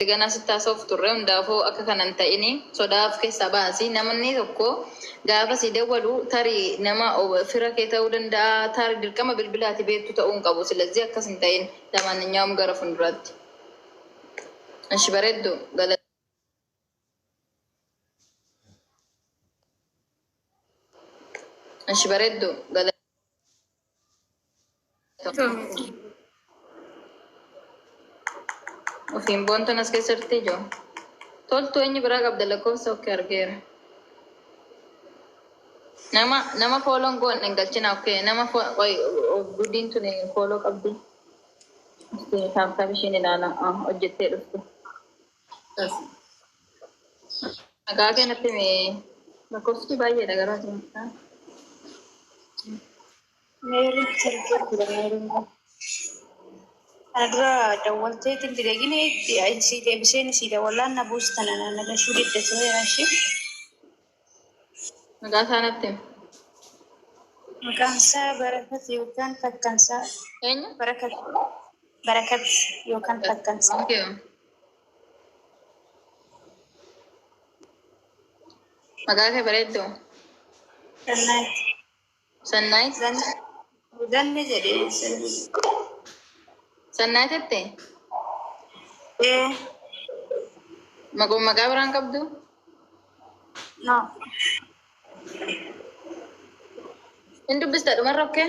Ati ganaa sitti haasa'uuf turre hundaafuu akka kana hin ta'ini sodaa of keessaa baasi namni tokko gaafa sii dawwalu tarii nama fira kee ta'uu danda'a taari dirqama bilbila ati beektu ta'uu hin qabu silazii akkas hin ta'in lamaananyaawum gara funduraatti ishi bareeddu gala ishi bareeddu gala Ofiin boontuun as keessatti ijoo. Toltuu eenyu biraa qabda lakkoofsa okkee argeera. Nama nama fooloon goon hin galchina okkee nama fo- qoy of gudiin tuni fooloo qabdi. Taabtaab ishiin ilaala Ah, hojjettee dhuftu. Maqaa kee natti himi. Lakkoofsi baay'eedha garuu ati maqaa. Meerri sirgee ture meerri immoo. Kana dura dawwaltee itti didegini itti sii deebiseen sii dawwalaan na buusta na na na lashuu didda ture ishee. Maqaa isaa natti himi. Maqaan isaa Barakat yookaan Fakkansaa. Eenyu? Barakat. Barakat yookaan Fakkansaa. Okay. Maqaa kee bareedduu? Gannaatti. Sannaayit. Zanne jedhee Sannaayit jette ee maqoo maqaa biraan qabdu. no Hin dubbista dhumarra okkee.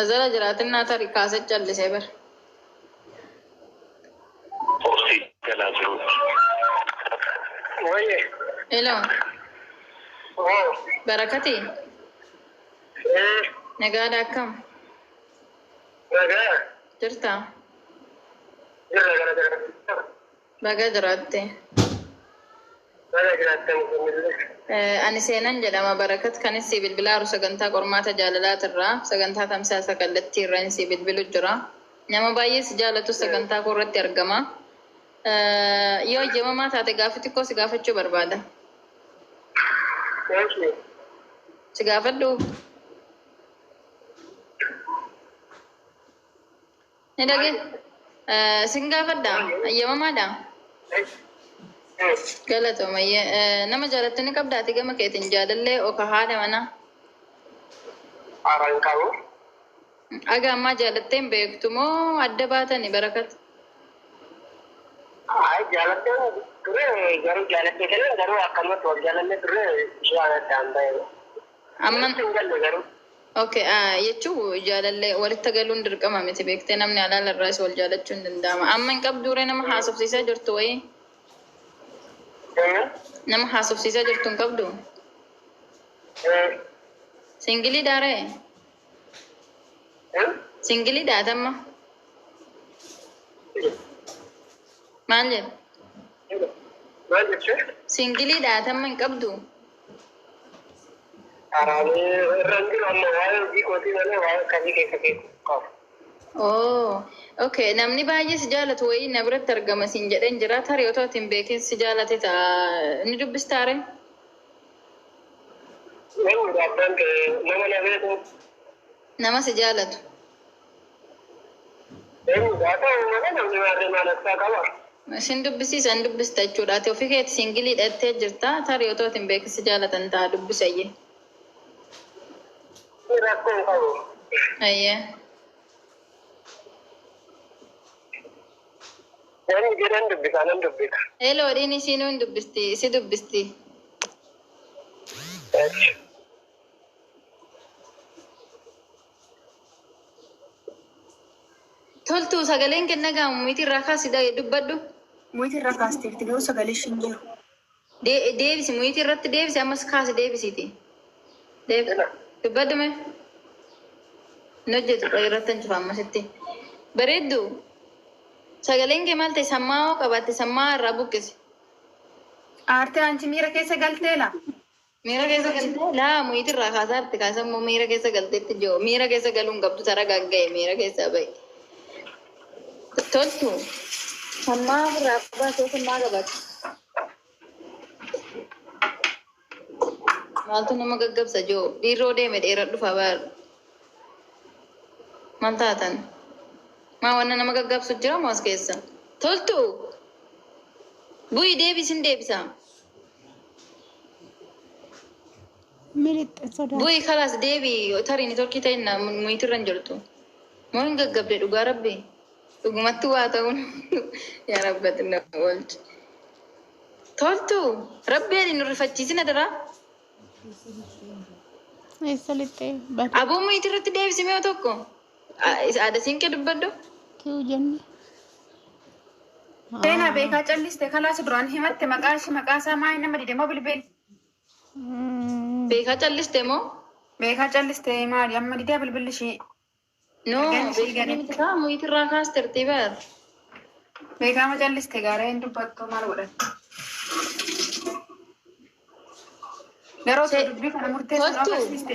Azala jiraatinaa tari kaase callisee bar. Obsii galaa jiruutti. Wayyee. Hello Oo. barakati Ee. nagaadha akkam Nagaa. jirta Jirra gara gara. Baga jiraatte. Baga jiraattan isinillee. Ani Seenan jedhama. Barakat kanin sii bilbilaaru sagantaa qormaata jaalalaatirraa, sagantaa tamsaasa kallattiirran sii bilbilu jira. Nama baay'ee si jaalatus sagantaa koorratti argama. Yoo eyyamamaa taate gaaffii xiqqoo si gaafachuu barbaada. Eeshi. Si gaafadhuu? Ni dhage sin gaafadha ayyamamaadha galatooma nama jaalattu ni qabda ati gama keetiin jaalallee oka haadha mana Aran qabu. aga ammaa jaalatteen beektu moo adda baatani barakat Ay jaalatteen ture garuu jaalatteen kana garuu akkanumatti wal jaalanne ture ishee aadaan bahe. Amma Natti hin galle garuu. ok ah, jechuu jaalallee walitti galuun dirqama miti beektee namni alaala irraas wal jaalachuun danda'ama. Amma hin qabduure nama haasofsiisaa jirtu wayii Eh, nama haasofsiisaa jirtu hin qabdu. eh, Singilii daaree eh. singilii daatamma. Maal jedhu? Maal jechuu? Singilii dhaatamma hin qabdu? Araanii irra hin jiru amma waa'ee hojii kootii malee waa'ee akkamii keessa beeku qabu. Oo, okay. Namni baay'ee si jaalatu wayii na biratti argama siin jedheen jira. Tarii otoo ati hin beekin si jaalate ta'a. Ni dubbistaare? Namni abbaan ta'e nama na beeku Nama si jaalatu. Garuu haa ta'u malee namni maarree maal harkaa qaba? Sin dubbisiisa hin dubbista jechuudha ati ofii keeti singiliidha jettee jirta tarii otoo ati hin beekin si jaalatan ta'a dubbisi ayyee. Inni rakkoo hin qabu. Ayyee. Namni jedhan dubbisaa nan dubbisa. Heloo dhiin isiinuu hin dubbisti si dubbisti. Eesh. Toltuu sagaleen kee dhaga'amu miti irraa kaasi dha- dubbadhu. Muyitii irraa kaasteerti garuu sagalee ishii hin jiru. De- deebisi muyitii irratti deebisi ammas kaasi deebisiiti. Deeb- Hello. dubbadhu mee. Hin hojjetu qoy irratti hin cufa ammasitti. Bareeddu sagaleen kee maal ta'e sammaa'oo qabaatte sammaa'aa irraa buqqisi. Aartee anchi miira keessa galteela. Miira keessa galtee laa muyiiti irraa kaasaa itti kaasan moo miira keessa galteetti joo miira keessa galuun qabdu tara gagga'e miira keessaa ba'i. Toltu hammaa irraa qabaa keessa maa qabaatu. Maaltu nama gaggabsa joo dhiirroo deeme dheeraa dhufa baar. Maal taatan? Maa wanna nama gaggabsu jira moo as keessa? Toltu bu'i deebisin deebisaa. Miliqxe sodaa. Bu'i kalaas deebi tarii nitorkii ta'inna muyitirra hin jirtu. Moo hin gaggabde dhugaa rabbi. Dhugumatti waa ta'uun yaa rabbati na oolchi. Toltu rabbi jedhi nu rifachiisin adaraa. Eessa lixxee bade. Aboo muyitirratti deebisi mi'oo tokko. Aada siinqee dubbadhu. Kiu jenne. Seenaa Ah, beekaa calliste kalaas duraan himatte maqaa ishii maqaa isaa maal nama dide moo bilbili. mm, Beekaa calliste moo? Beekaa calliste maali amma didee bilbilli ishii. No, Ergaan ishii beekaa gadi. miti kaa muyitirraa kaastertii bar. Beekaa ma calliste gaara hin dubbattu maal godhatte. Garuu osoo Ishee- dubbii kana murteessuun Kottu. agarsiiste.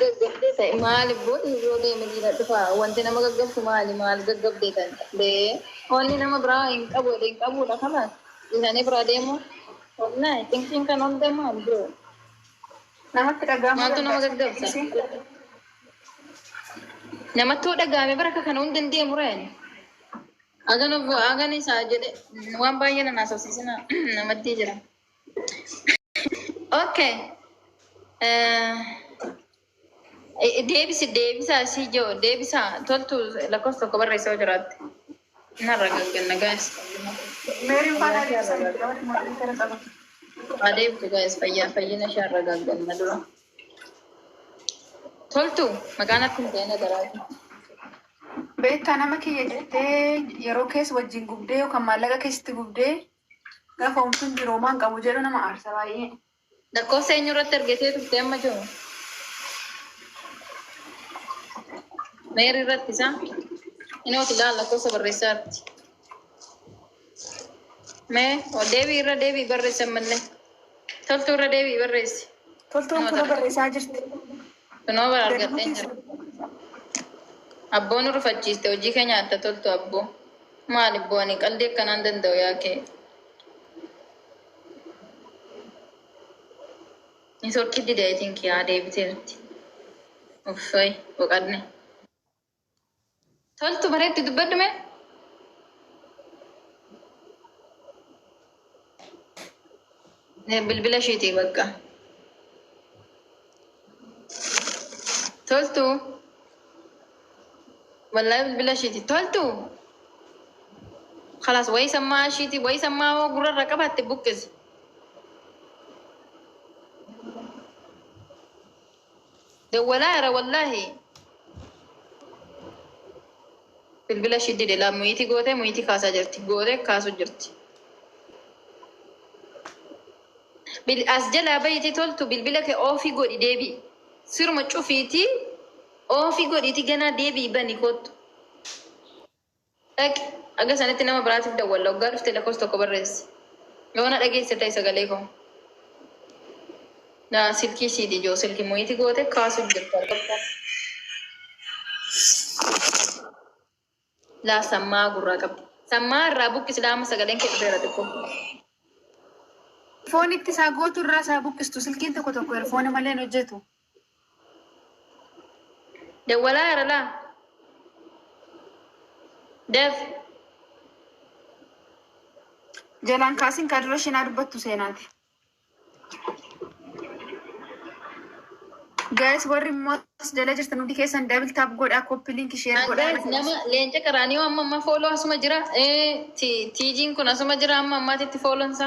gaggabdee ta'e maali booda yoo deeme dhiira dhufa wanti nama gaggabsu maali maal gaggabdee ta'e bee onni nama biraa hin qabu jedhe hin qabuudha kana dhiisanii biraa deemu onna thinking kan onnee maal bro namatti dhaga'amuu maaltu nama danda'a gaggabsa sometimes. namatti yoo dhaga'ame bara kana hundi hin deemu reen agan agan isaa jedhe waan baay'ee na naasofsiisina namatti jira. Okay. Deebisi deebisaa isii jiru deebisaa toltu lakkoofsa tokko barreessaa yoo jiraatte. Narra gagganna gaa'is. Meeriin faana deebisan namatti mootii gara qabu. Haa deebitu gaa'is fayyaa fayyina ishee irra gagganna dura. Toltu maqaan akka hin ta'in adaraati. Beektaa nama kiyya jettee yeroo keessa wajjin gubdee yookaan maallaqa keessatti gubdee Gahoomsuun jiroomaa hin qabu jedhu nama aarsa baay'ee. Lakkoofsa eenyu irratti argitee turte amma jiru? Meerii irratti isaa? Inooti ilaala lakkoofsa barreessaa irratti. Mee o deebii irra deebii barreessi ammallee. Toltuu irra deebii barreessi. Toltuun Nama kula tarree. barreessaa jirti. Kunoo bara argadheen jira. Abboo nu rufachiiste hojii kee nyaatta toltu abboo. Maal ibboo ani qaldii akkanaan danda'u yaa kee. Ni sorkii dide I think yaa deebiteerti. Uffay boqadne. Toltu bareetti dubbadhu mee. Bilbila ishiiti bakka. Toltu. Wallahi bilbila ishiiti. Toltu. Kalaas wayii sammaa ishiiti wayii sammaa hoo gurrarra qabaatte buqqisi. Dawwalaa ira wallahi bilbila ishii dide laa muyiitii gootee muyiitii kaasaa jirti gootee kaasu jirti. Bil as jalaa bayiitii toltu bilbila kee oofii godhi deebii siruma cufiitii oofii godhiitii ganaa deebii bani kottu. Dhaqi. Haga sanitti nama biraatiif dawwalla. Hoggaa dhufte lakkoofsa tokko barreessi. Yoo na dhageessite ta'i sagalee koo. Na silkii siiti ijoo silki muyiiti goote kaasuuf jirtu argatta. Laa sammaa gurraa qabdi. Sammaa irraa buqqisi laa amma sagaleen kee dhufeera xiqqoo. Foonitti isaa gootu irraa isaa buqqistu silkiin tokko tokko erfoona malee hin hojjetu. Dawwalaa yaralaa Dev. Jalaan kaasin kaa dura shinaa dubbattu seenaati. Guys warri immoo as jala jirtan hundi keessan double tap godhaa copy link share Guys godhaa. nama leenca qaraanii amma amma fooloo asuma jira. Eh, ti- Tiijiin kun asuma jira amma ammaatitti foolonsa.